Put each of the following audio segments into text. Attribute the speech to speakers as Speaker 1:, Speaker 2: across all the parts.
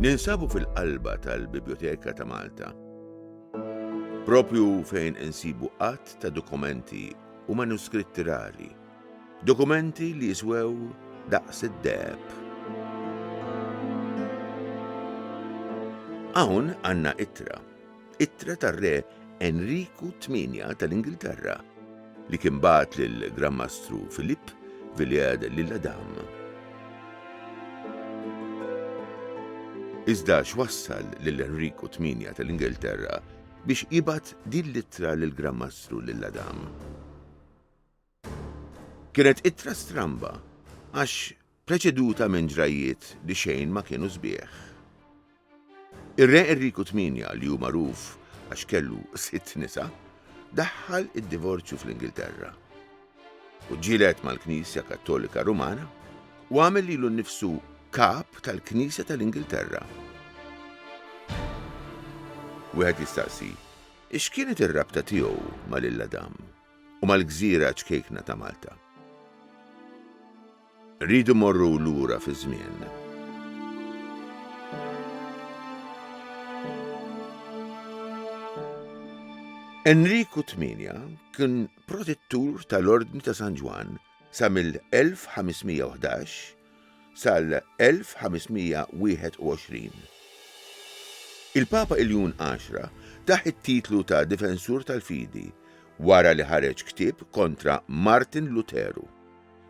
Speaker 1: Ninsabu fil-qalba tal-Bibjoteka ta' Malta, propju fejn insibu qatt ta' dokumenti u manuskritti rari. Dokumenti li jiswew daqs id-deheb. Hawn għandna ittra, ittra tar-re Enriku Tmienja tal-Ingilterra li kien bagħat lill-Gran Mastru Filipp Villiers lill-Adam. Iżda x'wassal lil Enriku Tmienja tal-Ingilterra biex jibgħat din l-ittra lill-Gran Mastru lill-Adam? Kienet ittra stramba għax preċeduta minn ġrajjiet li xejn ma kienu sbieħ. Ir-Re Enriku Tmienja li hu magħruf għax kellu sitt nisa, daħħal id-divorzju fl-Ingilterra u ġġieled mal-Knisja Kattolika Rumana u għamel lilu nnifsu Kap tal-Knisja tal-Ingilterra. Wieħed jistaqsi, x'kienet ir-rabta tiegħu ma' lil Adam? u mal-gżira ċkejkna ta' Malta. Rridu morru lura fiż-żmien. Enriku 8 kien protettur tal-Ordni ta' San Ġwann Sa mill-1511 sal-1521. Il-Papa Iljun Għaxra tah it-titlu ta' Difensur tal-Fidi wara li ħareġ ktieb kontra Martin Luteru,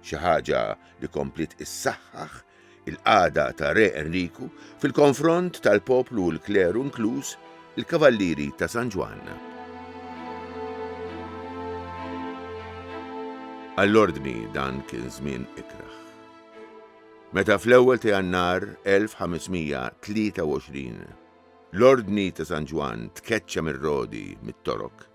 Speaker 1: xi ħaġa li kompliet issaħħaħ il-qagħda ta' Re Enriku fil-konfront tal-poplu u l-kleru inkluż il-Kavallieri ta' San Ġwann. Għall-Ordni dan kien żmien ikrah. Meta fl-ewwel ta' Jannar 1523 l-Ordni ta' San Ġwann tkeċċa mir-Rodi mit-Torok,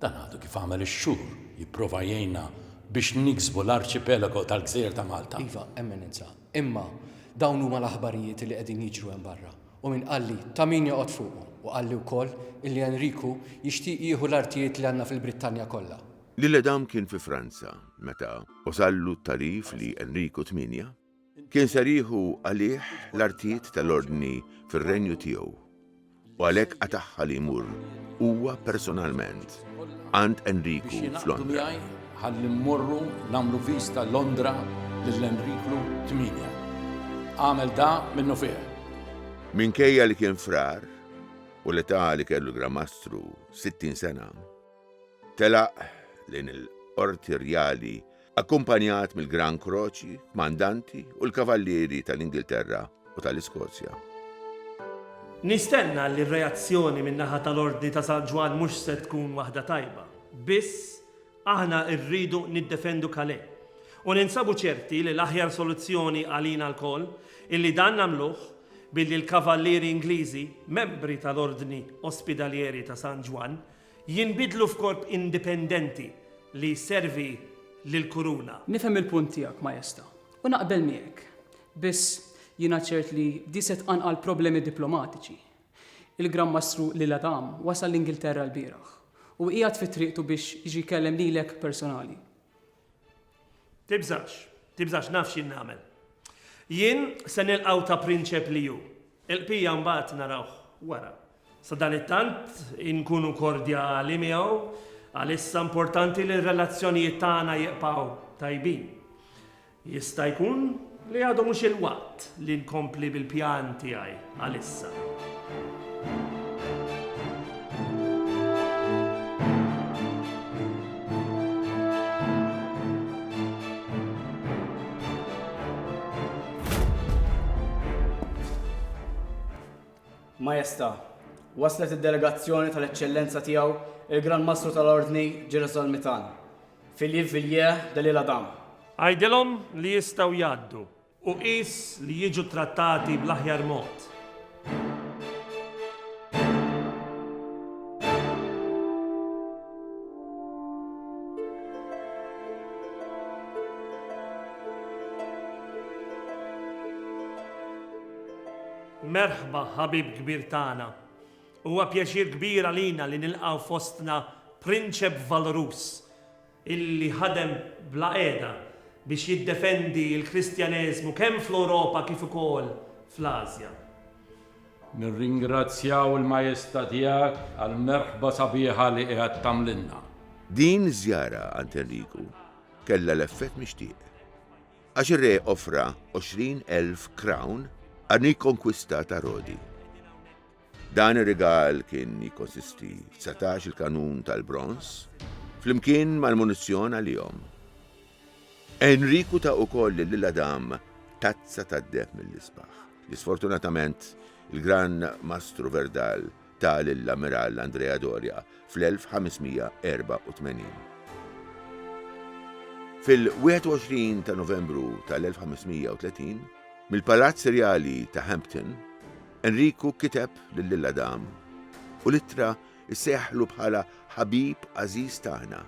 Speaker 2: Dan għadu kif għamel ix-xhur jipprova jgħinna biex niksbu l-arċipelago tal-gżejjer ta' Malta. Iva, Eminenza,
Speaker 3: imma dawn huma l-aħbarijiet li qegħdin jiġru hemm barra, u min qalli ta' min joqgħod fuqu, u qalli wkoll illi Enriku jixtieq jieħu l-artijiet li għandna fil-Brittanja kollha. Lil Adam kien fi
Speaker 1: Franza meta. Wasallu t-tagħrif li Enriku Tmienja Kien ser jieħu għalih l-artijiet tal-Ordni fir-Renju tiegħu, u għalhekk qatagħha li jmur huwa personalment għand Enriku f'Londra. Ħalli
Speaker 2: mmorru nagħmlu viżta Londra lil Enriku Tmienja. Għamel da minnu fih. Minkejja
Speaker 1: li kien frar u l-età li kellu l-Gramastru 60 sena, telaq lejn il-Qorti Rjali akkumpanjat mill-Gran Kroċi, kmandanti u l-Kavallieri tal-Ingilterra u tal-Iskozja. Nistenna
Speaker 4: li r-reazzjoni min-naħa tal-Ordni ta' San Ġwann mhux se tkun waħda tajba. Biss, aħna rridu niddefendu Calais. U ninsabu ċerti li l-aħjar soluzzjoni għalina lkoll hi li dan nagħmluh billi l-Kavallieri Ingliżi, membri tal-Ordni Ospidalieri ta' San Ġwann, Jinbidlu f'korp indipendenti li jservi lill-Kuruna. Nifhem il-punt
Speaker 5: tiegħek, Maesta, u naqbel miegħek. Biss, jiena ċert li di se tqanqal problemi diplomatiċi. Il-Gran Mastru Lil Adam wasal l-Ingilterra lbieraħ u qiegħed fi triqtu biex jiġi jkellem lilek personali. Tibżax,
Speaker 4: tibżax, naf x'jien nagħmel. Jien se nilqgħu ta' prinċep li hu. Il-bqija mbagħad narawh wara. Sadanittant, inkunu kordjali miegħu għalissa importanti li r-relazzjonijiet tagħna jibqgħu tajbin. Jista' jkun li għadu mhux il-waqt li nkompli bil-pjan tiegħi għalissa.
Speaker 6: Majesta', waslet id-delegazzjoni tal-Eċċellenza Tiegħu il-Gran Mastru tal-Ordni Girasol Mitan, Philippe Villiers de l'Isle Adam. Għidilhom
Speaker 4: li jistgħu jgħaddu. U qis li jiġu ttrattati bl-aħjar mod. Merħba, ħabib kbir tagħna. Huwa pjaċir kbir għalina li nilqgħu fostna prinċep valruż illi ħadem bla qiegħda biex jiddefendi l-Kristjaneżmu kemm fl-Ewropa kif ukoll fl-Asja. Nirringrazzjaw
Speaker 2: il-Majesta tiegħek għall-merħba sabiħa li qiegħed tagħmlilna. Din
Speaker 1: iż-żjara għand Enriku kellha l-effett mixtieq. Għax ir-re offra għoxrin elf krawn għar-rikonkwista ta' Rodi. Dan ir-rigal kien jikkonsisti f'satax-il kanun tal-bronż, flimkien mal-munizzjon għalihom. Enriku ta ukoll lill-għadam tazza tad-deheb mill-isbaħ, li sfortunatament il-Gran Mastru Verdal ta lill-Ammirall Andrea Doria fl-1584. Fil-21 ta' Novembru tal-1530, mill-Palazz Rjali ta' Hampton, Enriku kiteb lill-Adam u l-ittra ssejjaħlu bħala ħabib għażiż tagħna,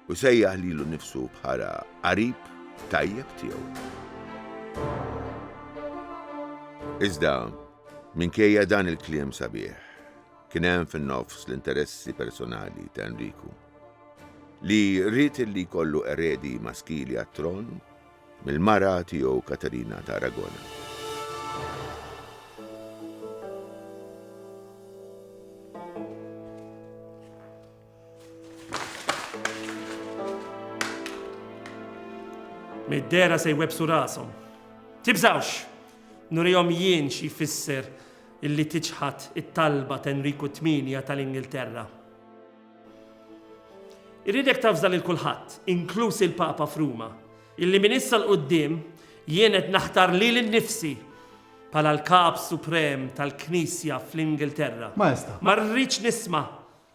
Speaker 1: U sejjaħ lilu nnifsu bħala qarib tajjeb tiegħu. Iżda, minkejja dan il-kliem sabiħ, kien hemm fin-nofs l-interessi personali ta' Enriku, li rrid li jkollu eredi maskili għat-tron mill-mara tiegħu Katarina ta' Aragona.
Speaker 4: Mid-dera se jwebsu rasom. Tibżawx! Nurijom jien xi jfisser illi tiċħat it-talba t'Enriku Tminja tal-Ingilterra. Irridek tafżal il kulħadd, inkluż il-Papa f'Ruma, illi minn issa l-qoddim jien qed naħtar lil nifsi bħala l-Kap Suprem tal-Knisja fl-Ingilterra. Maesta. Ma rridx
Speaker 7: nisma'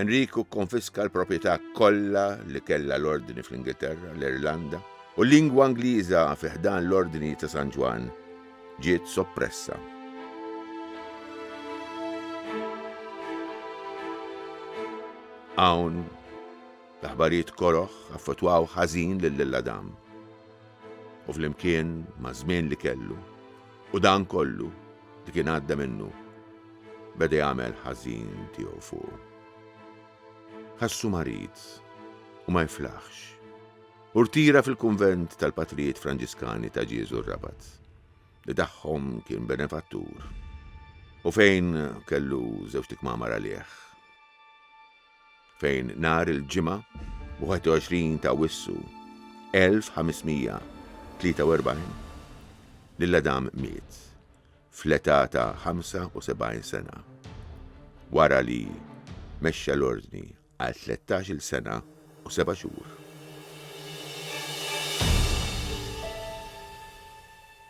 Speaker 1: Enriku kkonfiska l-proprjetà kollha li kellha l-Ordni fl-Ingilterra, l-Irlanda, u l-lingwa Ingliża fi ħdan l-Ordni ta' San Ġwann ġiet soppressa. Hawn, l-aħbarijiet koroh affettwaw ħażin lil Adam u flimkien maż-żmien li kellu, U dan kollu li kien għadda minnu beda jagħmel ħażin tiegħu fuqu. Ħassu marid u ma jiflaħx u rtira fil-kunvent tal-Patrijiet Franġiskani ta' Ġieżu r-Rabat li tagħhom kien benefattur u fejn kellu żewġt ikmamar għalih. fejn nhar il-Ġimgħa 21 ta' Awwissu 1543 lil Adam miet fl-età ta' 75 sena wara li mexxa l-Ordni għal tlettax-il sena u seba' xhur.